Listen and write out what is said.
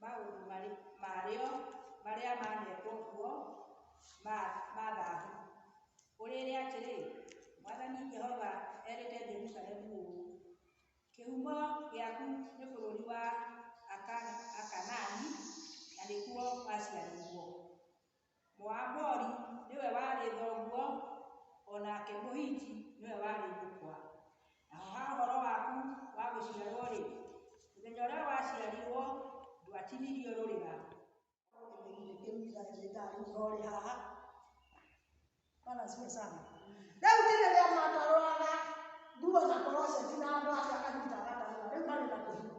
Maũndũ marĩ, marĩo marĩa maanetwo kuo ma, ma thahabu. Ũrĩĩre atĩrĩ, 'Mwathani Jehova erĩte Jerusalemu ũũ, Kĩhumo gĩaku nĩ bũrũri wa Aka, Akanaani, na nĩkuo waciarĩirwo. Mũambori nĩwe warĩ thoguo, o nake Mũhiti nĩwe warĩ nyũkwa. Naho ha ũhoro waku wa gũciarwo-rĩ, mũthenya ũrĩa waciarirwo ndwatinirio rũrĩra. Rĩu ti rĩrĩa matarũraga nguo na koroceti na andũ acio akanyita gatahũa, rĩu marĩ na kĩhiko.